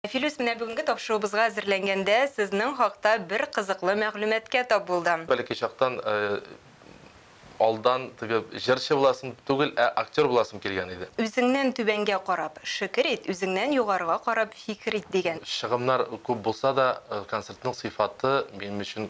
Филүс, менә бүгенге тапшыруыбызга әзерләнгәндә сезнең хакта бер кызыклы мәгълүматкә тап булдым. Бәләкәй чактан алдан теге җырчы буласым түгел, ә актер буласым килгән иде. Үзеңнән түбәнгә карап, шөкер ит, үзеңнән югарыга карап, фикер ит, дигән. Чыгымнар күп булса да, концертның сыйфаты минем өчен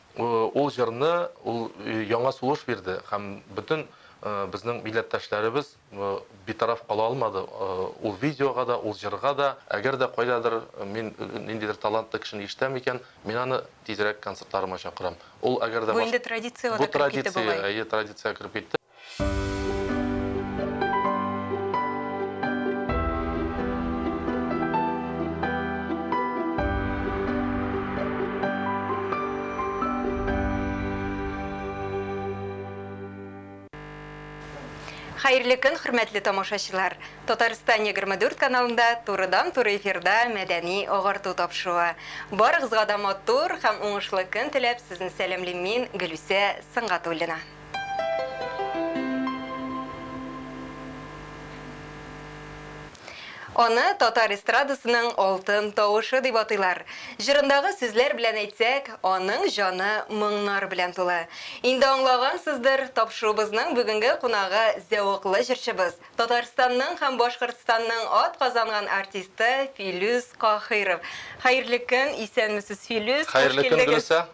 Ул җырны ул яңа сулыш бирде һәм бөтен безнең милләттәшләребез битараф кала алмады ул видеога да, ул җырга да. Әгәр дә кайдадыр мин ниндидер талантлы кешене ишетәм икән, мин аны тизрәк концертларыма чакырам. Ул әгәр дә башка. Бу инде традициягә дә кереп китте бугай. Бу традиция, әйе, традициягә кереп китте. Хәерле көн, хөрмәтле тамашачылар! Татарстан 24 каналында турыдан-туры эфирда мәдәни агарту тапшыруы. Барыгызга да матур һәм уңышлы көн теләп, сезне сәламлим мин, Гөлүсә Сынгатуллина. Аны татар эстрадасының алтын тавышы дип атыйлар. Җырындагы сүзләр белән әйтсәк, аның җаны моңнар белән тулы. Инде аңлагансыздыр, тапшыруыбызның бүгенге кунагы зәвыклы җырчыбыз, Татарстанның һәм Башкортстанның атказанган артисты Филүс Каһыйров. Хәерле көн, исәнмесез, Филүс! Хәерле көн, Гөлүсә!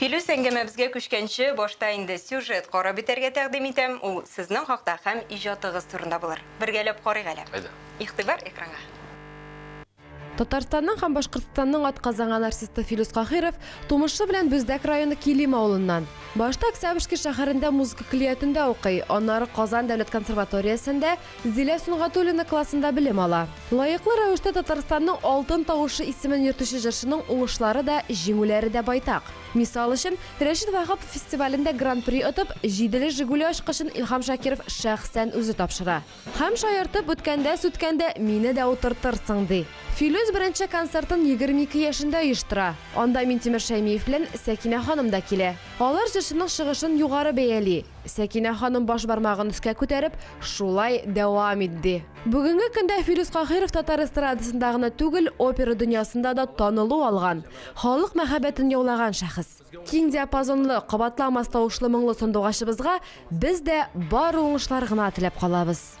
Филүс әңгәмәбезгә күчкәнче, башта инде сюжет карап бетәргә тәкъдим итәм, ул сезнең хакта һәм иҗатыгыз турында булыр. Бергәләп карыйк әле. Әйдә. Игътибар экранга. Татарстанның һәм Башкортстанның атказанган артисты Филүс Каһиров тумышы белән Бүздәк районы Килим авылыннан. Башта Октябрьский шәһәрендә музыка көллиятендә укый, аннары Казан дәүләт консерваториясендә, Зилә Сөнгатуллина классында белем ала. Лаеклы рәвештә Татарстанның Алтын тавышы исемен йөртүче җырчының уңышлары да, җиңүләре дә байтак. Мисал өчен, Рәшит Ваһапов фестивалендә Гран-при отып, җиделе Жигули ачкычын Илһам Шакиров шәхсән үзе тапшыра һәм, шаяртып, Беткәндә-сүткәндә мине дә утыртырсың, ди. Филүс беренче концертын егерме ике яшендә оештыра. Анда Минтимер Шәймиев белән Сәкинә ханым да килә. Алар җырчының чыгышын югары бәяли. Сәкинә ханым баш бармагын өскә күтәреп, шулай дәвам итди. Бүгенге көндә Филүс Каһиров татар эстрадасында гына түгел, опера дөньясында да танылу алган, халык мәхәббәтен яулаган шәхес. Киң диапазонлы, кабатламас тавышлы моңлы сандугачыбызга без дә бары уңышлар гына теләп калабыз.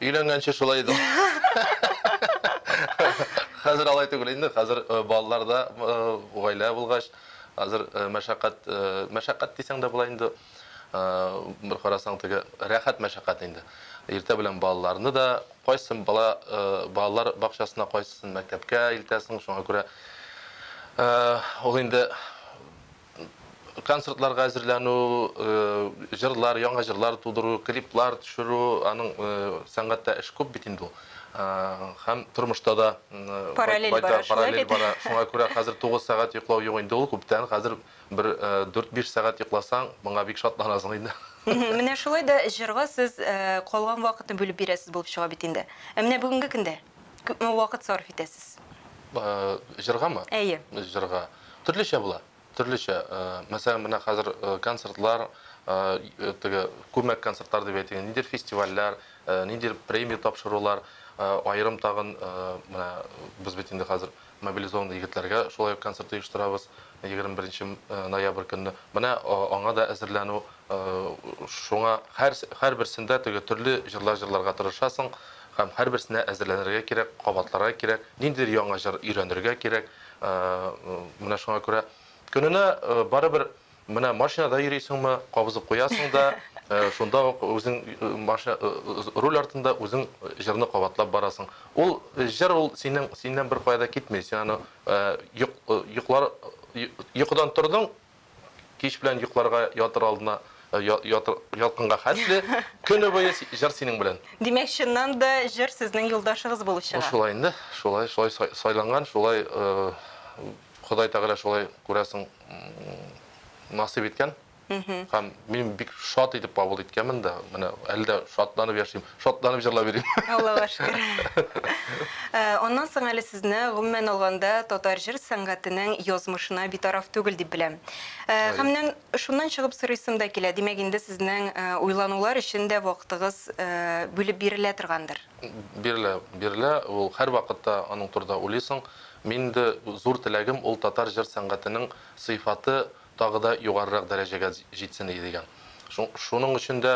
Өйләнгәнче шулай иде. Хәзер алай түгел инде. Хәзер э, балалар да, э, гаилә булгач, хәзер э, мәшәкать, э, мәшәкать дисәң дә була инде. Э, бер карасаң теге рәхәт мәшәкать инде. Иртә белән балаларны да кайсын бала э, балалар бакчасына, кайсын мәктәпкә илтәсең, шуңа күрә э, ул инде концертларга әзерләнү, җырлар, яңа җырлар тудыру, клиплар төшерү, аның сәнгатьтә эш күп бит инде ул. Һәм тормышта да параллель бара, шулай бит? Шуңа күрә хәзер 9 сәгать йоклау юк инде ул, күптән. Хәзер бер 4-5 сәгать йокласаң, моңа бик шатланасың инде. Менә шулай да җырга сез калган вакытны бүлеп бирәсез булып чыга бит инде. Ә менә бүгенге көндә? Күпме вакыт сарыф итәсез? Җыргамы? Әйе. Җырга. Төрлечә була. Төрлечә. Мәсәлән, менә хәзер концертлар, теге күмәк концертлар дип әйтик, ниндидер фестивальләр, ниндидер премия тапшырулар, аерым тагын, менә без бит инде хәзер Мобилизованный егетләргә шулай ук концерт оештырабыз 21 нче ноябрь көнне. Менә аңа да әзерләнү. Шуңа һәр һәрберсендә теге төрле җырлар җырларга тырышасың һәм һәрберсенә әзерләнергә кирәк, кабатларга кирәк, ниндидер яңа җыр өйрәнергә кирәк. Менә шуңа күрә көненә барыбер Менә машинада йөрисеңме, кабызып куясың да, шунда ук үзең руль артында үзең җырны кабатлап барасың. Ул җыр ул синең синнән бер кая да китми. Син аны йоклар йокыдан тордың, кич белән йокларга ятыр алдына ялкынга хәтле көне буе җыр синең белән. Димәк, чыннан да җыр сезнең юлдашыгыз булып чыга. Шулай инде, шулай, шулай сайланган, шулай Ходай Тәгалә шулай күрәсең насыйп иткән. Һәм мин бик шат итеп кабул иткәнмен дә, менә әле дә шатланып яшим, шатланып җырлап йөрим. Аллага шөкер. Э, аннан соң әле сезне гомумән алганда татар җыр сәнгатенең язмышына битараф түгел дип беләм. Э, һәм менә шуннан чыгып сорыйсым да килә. Димәк, инде сезнең э, уйланулар өчен дә вакытыгыз бүлеп бирелә торгандыр. Бирелә, бирелә. Ул һәр вакытта аның турында уйлыйсың. Минем дә зур теләгем ул татар җыр сәнгатенең сыйфаты тагы да югарырак дәрәҗәгә җитсен иде дигән. Шуның өчен дә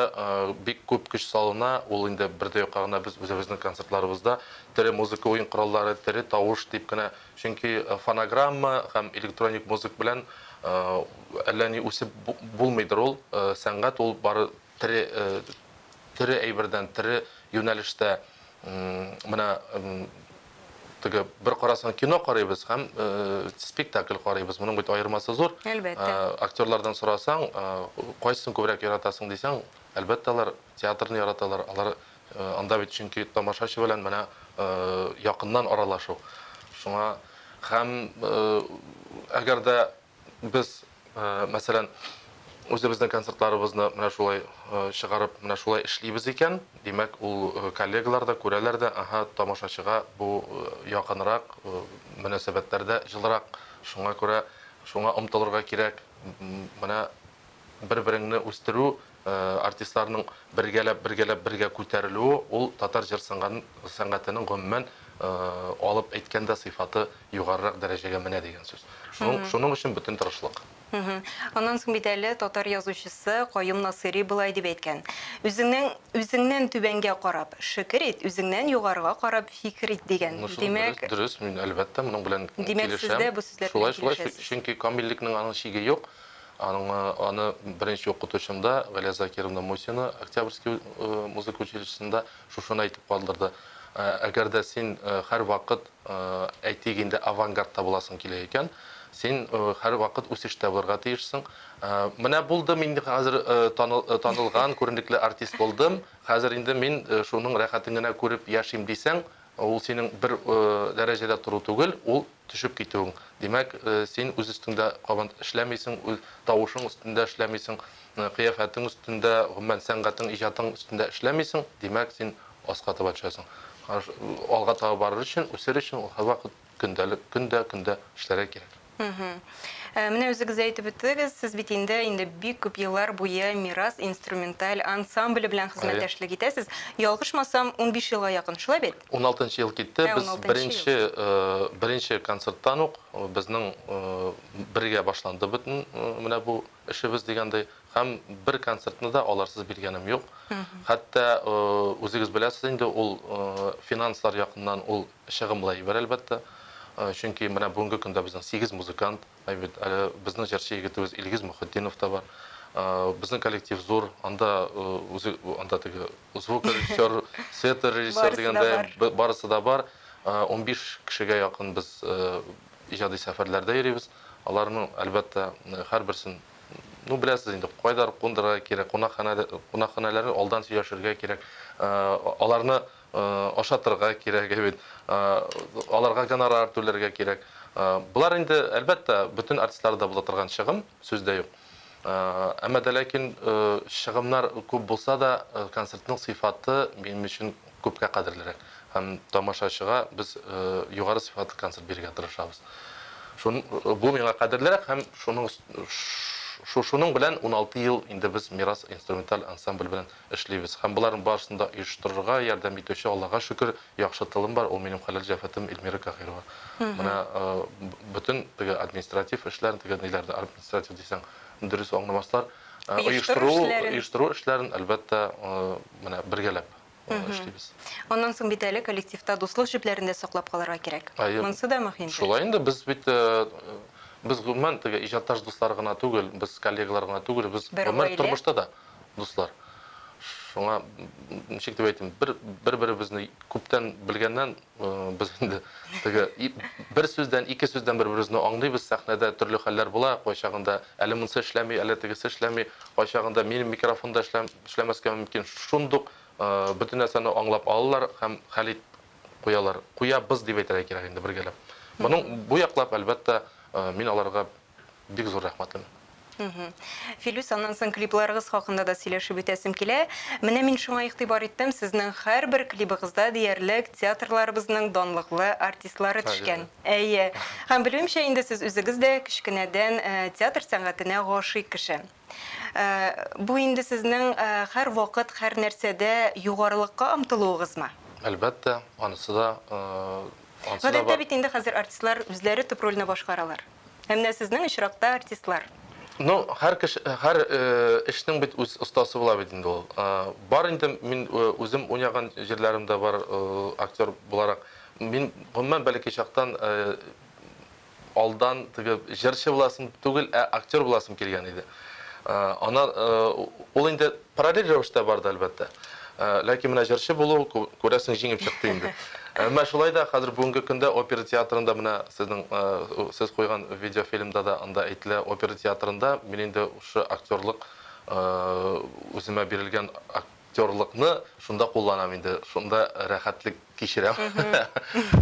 бик күп көч салына, ул инде бер дә юкка гына без үзебезнең концертларыбызда тере музыка уен кораллары, тере тавыш дип кенә, чөнки фонограмма һәм электроник музык белән әллә ни үсеп булмыйдыр ул, сәнгать ул бары Тере тере әйбердән тере юнәлештә менә теге бер карасаң кино карыйбыз һәм спектакль карыйбыз. Моның бит аермасы зур. Әлбәттә. Актерлардан сорасаң, кайсын күбрәк яратасың дисәң, әлбәттә алар театрны яраталар. Алар анда бит чөнки тамашачы белән менә якыннан аралашу. Шуңа һәм әгәр дә Без, мәсәлән, үзебезнең концертларыбызны менә шулай чыгарып, менә шулай эшлибез икән, димәк, ул коллегалар да күрәләр дә, аһа, тамашачыга бу якынрак, мөнәсәбәтләр дә җылырак, шуңа күрә шуңа омтылырга кирәк. Менә бер-береңне үстерү, Артистларның бергәләп, бергәләп бергә күтәрелүе ул татар җыр сәнгатенең гомумән алып әйткәндә сыйфаты югарырак дәрәҗәгә менә дигән сүз. Шуның, шуның өчен бөтен тырышлык. Аннан соң бит әле татар язучысы Каюм Насыйри болай дип әйткән, Үзеңнең, үзеңнән түбәнгә карап, шекер ит, үзеңнән югарыга карап, фикер ит, дигән. Димәк. Дөрес, дөрес, мин әлбәттә моның белән килешәм. Димәк, сез дә бу сүзләр белән килешәсез. Шулай, шулай, чөнки камиллекнең аның чиге юк. Аңа аны беренче укытучымда, Галия Закировна Мусина, Октябрьский музыка училищесында шушыны әйтеп калдырды, Әгәр дә син һәрвакыт, әйтик инде, авангардта буласың килә икән, син һәрвакыт үсештә булырга тиешсең. Менә булдым инде хәзер танылган, күренекле артист булдым, хәзер инде мин шуның рәхәтен генә күреп яшим дисәң, ул синең бер дәрәҗәдә тору түгел, ул Төшеп китүең. Димәк, син үз өстеңдә кабат эшләмисең, үз тавышың өстендә эшләмисең, кыяфәтең өстендә, гомумән, сәнгатең, иҗатың өстендә эшләмисең, димәк, син аска таба төшәсең. Алга таба барыр өчен, үсер өчен ул һәрвакыт көндәлек, көн дә, көн дә эшләргә кирәк. Э, менә үзегез дә әйтеп үттегез, сез бит инде инде бик күп еллар буе Мирас инструменталь ансамбле белән хезмәттәшлек итәсез. Ялгышмасам, 15 елга якын, шулай бит? 16 ел китте. Ә, Без беренче э, беренче концерттан ук э, безнең бергә башланды бөтен менә бу эшебез дигәндәй һәм бер концертны да аларсыз биргәнем юк. Хәтта үзегез беләсез инде, ул финанслар якыннан ул Чыгымлы әйбер, әлбәттә. Чөнки менә бүгенге көндә безнең сигез музыкант, ә бит әле безнең җырчы егетебез Илгиз Мөхетдинов та бар. Безнең коллектив зур, анда үзе анда теге звукорежиссер, света режиссер дигәндә барысы да бар. Унбиш кешегә якын без иҗади сәфәрләрдә йөрибез. Аларның, әлбәттә, һәрберсен, ну, беләсез инде, кайда кундырырга кирәк, кунакханәләрен алдан сөйләшергә кирәк. Аларны ашатырга кирәк, әйбит, аларга гонорар түләргә кирәк. Болар инде, әлбәттә, бөтен артистларда була торган чыгым, сүз дә юк. Әмма дә ләкин чыгымнар күп булса да, концертның сыйфаты минем өчен күпкә кадерлерәк. Һәм тамашачыга без югары сыйфатлы концерт бирергә тырышабыз. Бу миңа кадерлерәк һәм шуның белән уналты ел инде без Мирас инструменталь ансамбль белән эшлибез. Һәм боларның барысын да оештырырга ярдәм итүче, Аллага шөкер, яхшы тылым бар, ул минем хәләл җәфәтем Эльмира Каһирова. Менә бөтен теге административ эшләрен, теге ниләрне, административ дисәң, дөрес аңламаслар, оештыру эшләрен, оештыру эшләрен, әлбәттә, менә бергәләп эшлибез. Аннан соң бит әле коллективта дуслык җепләрен дә саклап калырга кирәк. Монысы да мөһим. Шулай инде, без бит, без гомумән теге иҗатташ дуслар гына түгел, без коллегалар гына түгел, без гомер тормышта да. Бер гаилә. дуслар. Шуңа ничек дип әйтим, бер бер-беребезне күптән белгәннән без инде теге бер сүздән, ике сүздән бер-беребезне аңлыйбыз. Сәхнәдә төрле хәлләр була. Кайчагында әле монысы эшләми, әле тегесе эшләми. Кайчагында минем микрофон да эшләмәскә мөмкин. Шундук бөтен нәрсәне аңлап алалар һәм хәл ит куялар. Куябыз дип әйтергә кирәк инде бергәләп. Моның бу яклап, әлбәттә, мин аларга Бик зур рәхмәт аны. Филүс, аннан соң клипларыгыз хакында да сөйләшеп үтәсем килә. Менә мин шуңа игътибар иттем, сезнең һәрбер клибыгызда диярлек театрларыбызның данлыклы артистлары төшкән. Әйе. Һәм белүемчә инде сез үзегез дә кечкенәдән э, театр сәнгатенә гашыйк кеше. Э, бу инде сезнең э, һәр вакыт, һәр нәрсәдә югарылыкка омтылуыгызмы? Әлбәттә, анысы да Гадәттә бит инде хәзер артистлар үзләре төп рольне башкаралар. Ә менә сезнең очракта артистлар. Ну, һәр кеше, һәр эшнең бит үз остасы була бит инде ул. Бар инде, мин үзем уйнаган җирләрем дә бар актер буларак. Мин гомумән бәләкәй чактан алдан теге җырчы буласым түгел, ә актер буласым килгән иде. Аннан ул инде Параллель рәвештә барды, әлбәттә. Ләкин менә җырчы булу, күрәсең, җиңел чыкты инде. Әмма шулай да хәзер бүгенге көндә опера театрында менә сезнең сез куйган видеофильмда да анда әйтелә, опера театрында мин инде шушы актерлык үземә бирелгән актерлыкны шунда кулланам инде, шунда рәхәтлек Кичерәм.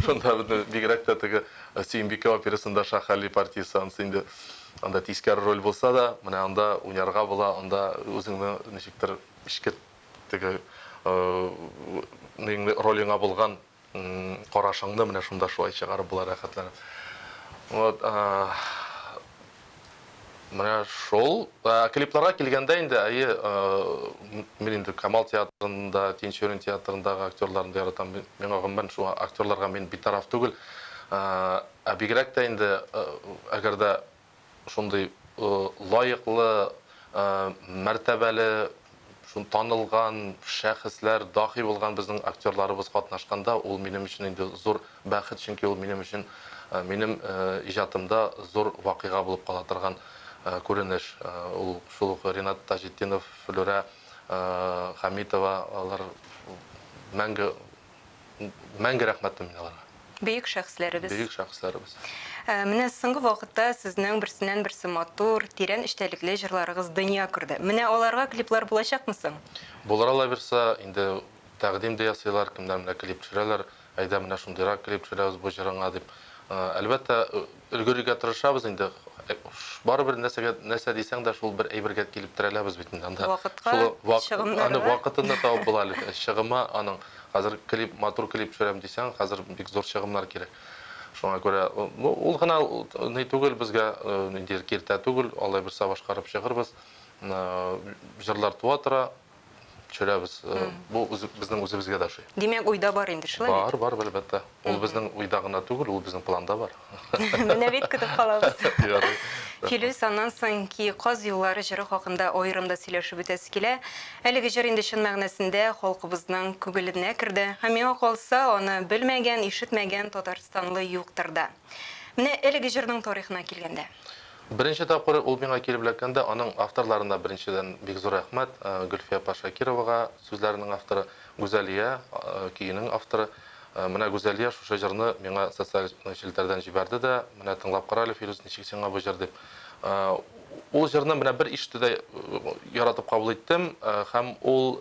Шунда бит бигрәк тә теге Сөембикә операсында Шахали партиясе ансы инде анда тискәре роль булса да, менә анда уйнарга була, анда үзеңне ничектер эчке теге ниңли ролеңа булган карашыңны менә шунда шулай чыгарып була рәхәтләнеп. Вот. Менә шул. Ә, Клипларга килгәндә инде, әйе, э, м- мин инде Камал театрында, Тинчурин театрындагы актерларны да яратам. Ми- Миңа гомумән шул актерларга мин битараф түгел. Э, Ә бигрәк тә инде, э, әгәр дә шундый э, лаеклы, э, мәртәбәле Шул танылган шәхесләр, даһи булган безнең актерларыбыз катнашканда, ул минем өчен инде зур бәхет, чөнки ул минем өчен, минем иҗатымда зур вакыйга булып кала торган күренеш. Ул шул ук Ринат Таҗетдинов, Флүрә Хәмитова, алар мәңге мәңге рәхмәтле мин аларга. Бөек шәхесләребез. Бөек шәхесләребез. Ә, менә соңгы вакытта сезнең берсеннән берсе матур, тирән эчтәлекле җырларыгыз дөнья күрде. Менә аларга клиплар булачакмы соң? Булыр ала бирсә, инде тәкъдим дә ясыйлар, кемнәр менә клип төшерәләр, әйдә менә шундыйрак клип төшерәбез бу җырыңа дип. Ә, әлбәттә, Өлгерергә тырышабыз инде. Барыбер нәрсәгә, нәрсә дисәң дә, шул бер әйбергә килеп терәләбез бит инде анда. Вакытка, чыгымнарга. Аны вакытын да табып була әле. Чыгымы аның, хәзер клип, матур клип төшерәм дисәң, хәзер бик зур чыгымнар кирәк. Шуңа күрә, ну, ул гына ни түгел безгә, нинди киртә түгел, алай берсә башкарып чыгырбыз. Җырлар туа тора, төшерәбез. Э, бу безнең үзебезгә дә ошый. Димәк, уйда бар инде, шулай бит? Бар, бар, әлбәттә. Ул безнең уйда гына түгел, ул безнең планда бар. Менә бит көтеп калабыз. Филүс, аннан соң ки каз юллары җыры хакында аерым да сөйләшеп үтәсе килә. Әлеге җыр инде чын мәгънәсендә халкыбызның күңеленә керде. Һәм миңа калса, аны белмәгән, ишетмәгән татарстанлы юктыр да. Менә әлеге җырның тарихына килгәндә. Беренче тапкыр ул миңа килеп эләккәндә, аның авторларына беренчедән бик зур рәхмәт, Гөлфия апа Шакировага, сүзләренең авторы, Гүзәлия, көенең авторы. Менә Гүзәлия шушы җырны миңа социаль челтәрдән җибәрде дә, менә тыңлап кара әле, Фирүз, ничек сиңа бу җыр дип. Ул җырны менә бер ишетүдә яратып кабул иттем һәм ул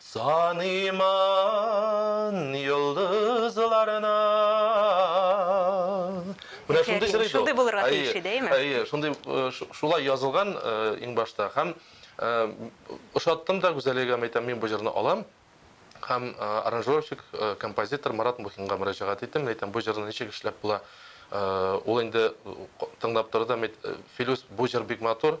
Саныймын йолдызларына. Менә шундый җыр иде ул. Шундый булырга тиеш иде, әйме? Әйе, шундый, шулай язылган иң башта һәм ошаттым да Гүзәлия га әйтәм, мин бу җырны алам һәм аранжировщик, композитор Марат Мухинга мөрәҗәгать иттем, мин әйтәм, бу җырны ничек эшләп була? Ул инде тыңлап торды һәм әйтте, Филүс, бу җыр бик матур,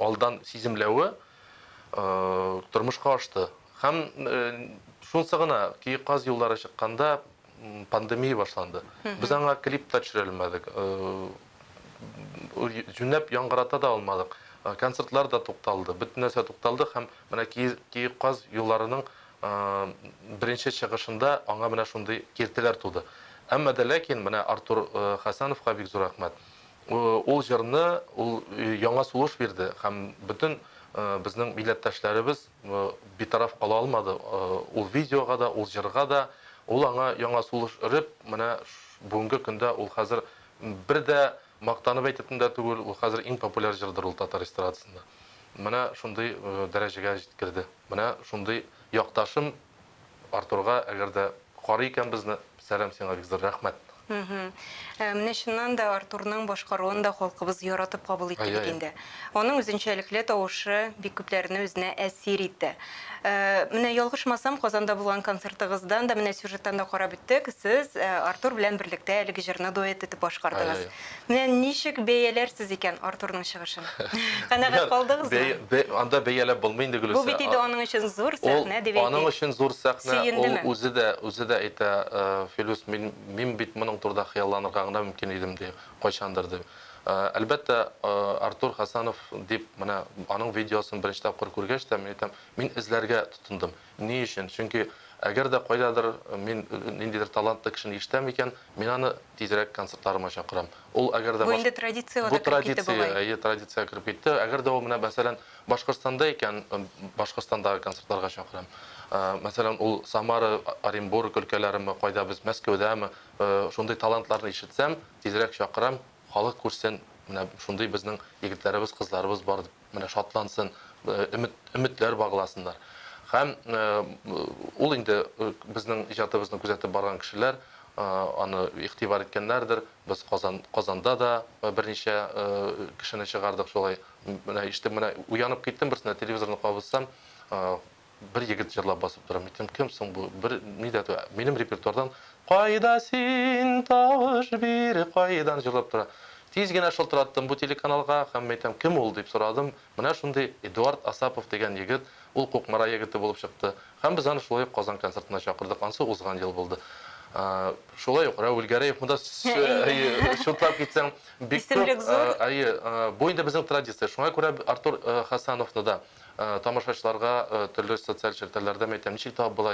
алдан сиземләве тормышка ашты. Һәм шунсы гына, ки каз юллары чыкканда пандемия башланды. Без аңа клип та төшерә алмадык. Җүнләп яңгырата да алмадык. Концертлар да тукталды, бөтен нәрсә тукталды һәм менә ки каз юлларының беренче чыгышында аңа менә шундый киртәләр туды. Әмма дә ләкин менә Артур Хәсәновка бик зур рәхмәт. Ул җырны ул яңа сулыш бирде һәм бөтен безнең милләттәшләребез битараф кала алмады ул видеога да, ул җырга да. Ул аңа яңа сулыш өреп, менә бүгенге көндә ул хәзер бер дә мактанып әйтепн дә түгел, ул хәзер иң популяр җырдыр ул татар эстрадасында. Менә шундый дәрәҗәгә җиткерде. Менә шундый якташым Артурга әгәр дә карый икән безне, сәлам сиңа Виктор, рәхмәт. Менә чыннан да Артурның башкаруын да халкыбыз яратып кабул итте бит инде. Аның үзенчәлекле тавышы бик күпләрне үзенә әсир итте. Менә ялгышмасам, Казанда булган концертыгыздан да, менә сюжеттан да карап үттек, сез Артур белән берлектә әлеге җырны дуэт итеп башкардыгыз. Менә ничек бәяләрсез икән Артурның чыгышын? Канәгать калдыгызмы? Бәя, анда бәяләп булмый инде, Гөлүсә. Бу бит инде аның өчен зур сәхнә, дип әйтик. Ул аның өчен зур сәхнә, ул үзе дә, үзе дә әйтә, Филүс, мин, мин бит моның турыда хыялланырга гына мөмкин идем, ди, кайчандыр, ди. Әлбәттә, Артур Хәсәнов дип, менә аның видеосын беренче тапкыр күргәч тә, мин әйтәм, мин эзләргә тотындым. Ни өчен? Чөнки әгәр дә кайдадыр мин ниндидер талантлы кешене ишетәм икән, мин аны тизрәк концертларыма чакырам. Ул әгәр дә Бу инде традициягә да кереп китте бугай. Бу традиция, әйе, традициягә кереп китте. Әгәр дә ул менә, мәсәлән, Башкортстанда икән, Башкортстандагы концертларга чакырам. Мәсәлән, ул Самара, Оренбург өлкәләреме, кайда без, Мәскәүдәме, шундый талантларны ишетсәм, тизрәк чакырам, халык күрсен, менә шундый безнең егетләребез, кызларыбыз бар дип. менә шатлансын, өмет, өметләр багласыннар. Һәм ул инде безнең иҗатыбызны күзәтеп барган кешеләр аны игътибар иткәннәрдер. Без Казан, Казанда да берничә кешене чыгардык шулай. Менә ишетеп, менә уянып киттем берсендә, телевизорны кабызсам, Бер егет җырлап басып тора, мин кем соң бу, бер ни дә тү, минем репертуардан Кайда син, тавыш бир, кайдан җырлап тора. Тиз генә шылтыраттым бу телеканалга һәм әйтәм, кем ул дип сорадым, менә шундый Эдуард Асапов дигән егет, ул Кукмара егете булып чыкты. Һәм без аны шулай ук Казан концертына чакырдык, ансы узган ел булды. Шулай ук Рәүл Гәрәев монда чутлап китсәң бик күп, әйе, бу инде безнең традиция, шуңа күрә Артур Хәсәновны да. Тамашачыларга төрле социаль челтәрләрдә мәйтәм, ничек табып була,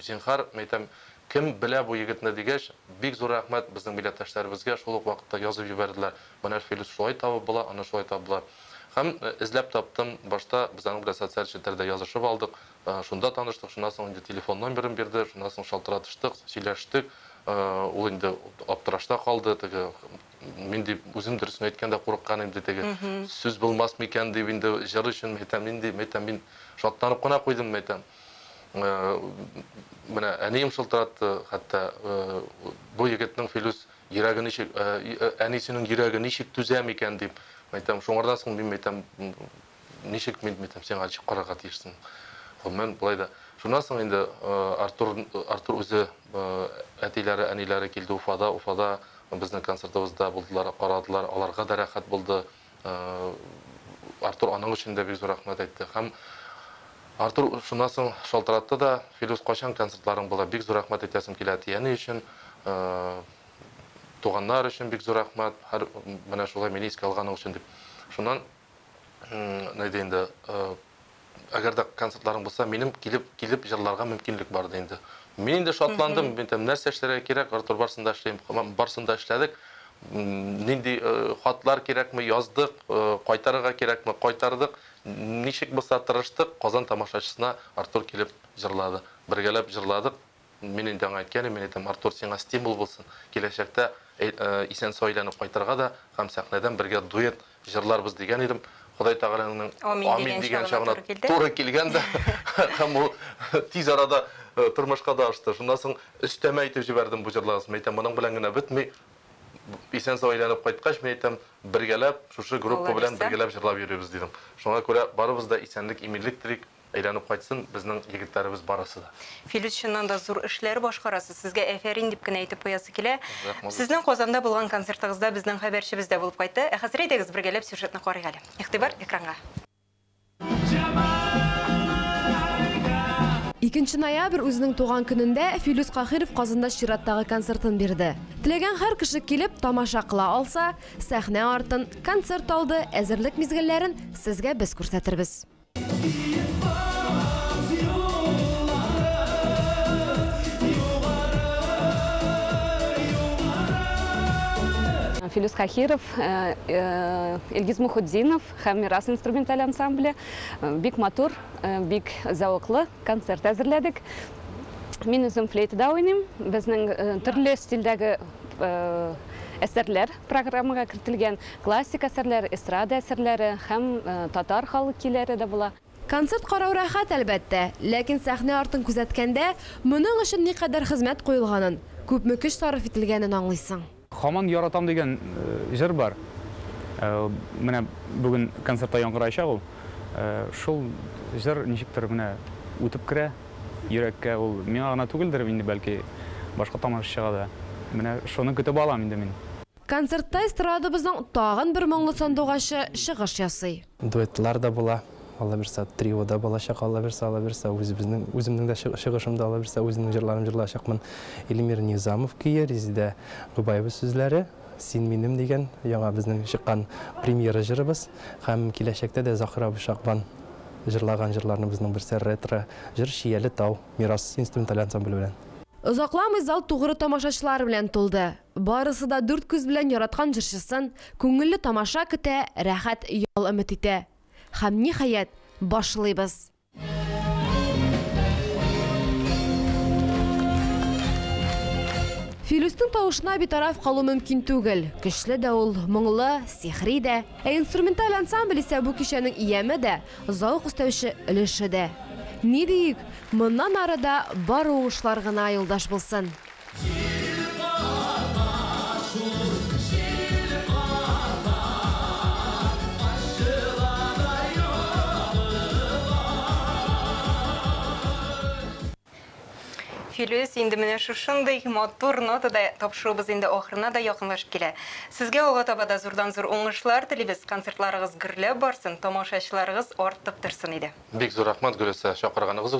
зинһар, мәйтәм, кем белә бу егетне, дигәч, бик зур рәхмәт безнең милләттәшләребезгә, шул ук вакытта язып җибәрделәр, Мөнәф Филүс шулай табып була, аны шулай табып була. Һәм эзләп таптым, башта без аның белән социаль челтәрдә язышып алдык, шунда таныштык, шуннан соң инде телефон номерын бирде, шуннан соң шалтыратыштык, сөйләштек, ул инде аптырашта калды, теге, мин дип үзем дөресен әйткәндә курыккан инде теге сүз булмас микән дип инде җыр өчен әйтәм мин дип әйтәм мин шатланып кына куйдым әйтәм э, менә әнием шылтыратты хәтта э, бу егетнең филүс йөрәге ничек э, әнисенең йөрәге ничек түзә микән дип әйтәм шуңардан соң мин әйтәм Ничек мин битем, сиңа ничек карарга тиешсең? Гомумән, болай да. Шуннан соң инде Артур, Артур үзе, әтиләре, әниләре килде Уфада, Уфада безнең концертыбызда булдылар, карадылар, аларга да рәхәт булды. Артур аның өчен дә бик зур рәхмәт әйтте. Һәм Артур шуннан соң шалтыратты да, Филүс, кайчан концертларың була? Бик зур рәхмәт әйтәсем килә әти-әни өчен, туганнар өчен бик зур рәхмәт, һәр менә шулай мине искә алганың өчен дип. Шуннан Нәй дә инде, әгәр дә концертларың булса, минем килеп килеп җырларга мөмкинлек бар ди инде. Мин инде шатландым, мин там нәрсә эшләргә кирәк, Артур барсында эшлим, барсында эшләдек. Нинди хатлар кирәкме, яздык, кайтарырга кирәкме, кайтардык. Ничек булса тырыштык, Казан тамашачысына Артур килеп җырлады. Бергәләп җырладык, Мин инде аңа әйткән идем, мин әйтәм, Артур, сиңа стимул булсын, киләчәктә исән-сау әйләнеп кайтырга да һәм сәхнәдән бергә дуэт җырларбыз дигән идем. Ходай Тәгаләнең амин дигән чагына туры килгән дә һәм ул тиз арада тормышка да ашты. Шуннан соң өстәмә әйтеп җибәрдем бу җырларыгыз. Мин әйтәм, моның белән генә бетми. Исән-сау әйләнеп кайткач, мин әйтәм, бергәләп, шушы группа белән бергәләп җырлап йөрибез, дидем. Шуңа күрә барыбыз да исәнлек-иминлек телик. Әйләнеп кайтсын безнең егетләребез барысы да. Филүс чыннан да зур эшләр башкарасыз, сезгә әфәрин дип кенә әйтеп куясы килә. Сезнең Казанда булган концертыгызда безнең хәбәрчебез дә булып кайтты. Ә хәзер әйдәгез бергәләп сюжетны карыйк әле. Игътибар экранга. Икенче ноябрь үзенең туган көнендә Филүс Каһиров Казанда чираттагы концертын бирде. Теләгән һәр кеше килеп, тамаша кыла алса, сәхнә артын, концерт алды, әзерлек мизгелләрен сезгә без күрсәтербез. Киеп баз юлларын, югары, югары. Филүс Каһиров, Илгиз Мухутдинов һәм Мирас инструменталь ансамбле бик матур, бик зәвыклы концерт әзерләдек. Мин үзем флейтада уйныйм. Безнең төрле стильдәге әсәрләр программага кертелгән. Классик әсәрләр, эстрада әсәрләре һәм татар халык көйләре дә була. Концерт карау рәхәт, әлбәттә, ләкин сәхнә артын күзәткәндә, моның өчен никадәр хезмәт куелганын, күпме көч сарыф ителгәнен аңлыйсың. Хаман яратам дигән җыр бар. Менә бүген концертта яңгыраячак ул. Шул җыр ничектер менә үтеп керә йөрәккә. Ул миңа гына түгелдер инде, бәлки, башка тамашачыга да. Менә шуны көтеп алам инде мин. Концертта эстрадабызның тагын бер моңлы сандугачы чыгыш ясый. Дуэтлар да була, аллабирса, трио да булачак, аллабирса, аллабирса, үзебезнең, үземнең дә чыгышым да, аллабирса, үземнең җырларым җырлаячакмын. Илмир Низамов көе, Резидә Гобаева сүзләре, Син минем дигән яңа безнең чыккан премьера җырыбыз һәм киләчәктә дә Закир абый Шагбан җырлаган җырларныбызның берсе, ретро җыр Чияле тау, Мирас инструменталь ансамбле белән. Озакламый зал тугры тамашачылар белән тулды. Барысы да дүрт күз белән яраткан җырчысын күңелле тамаша көтә, рәхәт ял өмет итә. Һәм, ниһаять, башлыйбыз! Филүснең тавышына битараф калу мөмкин түгел. Көчле дә ул, моңлы, сихри дә. Ә инструменталь ансамбль исә бу кичәнең ияме дә, зәвык өстәүче өлеше дә. Ни диик, моннан ары да бары уңышлар гына юлдаш булсын! Филүс, инде менә шушындый матур нотада тапшыруыбыз инде ахырына да якынлашып килә. Сезгә алга таба да зурдан-зур уңышлар телибез, концертларыгыз гөрләп барсын, тамашачыларыгыз артып торсын иде. Бик зур рәхмәт, Гөлүсә, чакырганыгыз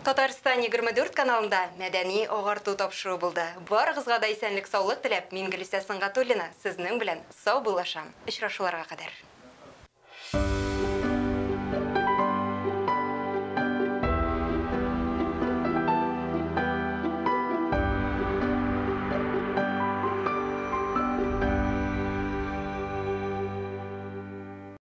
Татарстан 24 каналында мәдәни агарту тапшыру булды. Барыгызга да исәнлек саулык теләп, мин Гөлисә Сынгатуллина сезнең белән сау булышам. Очрашуларга кадәр.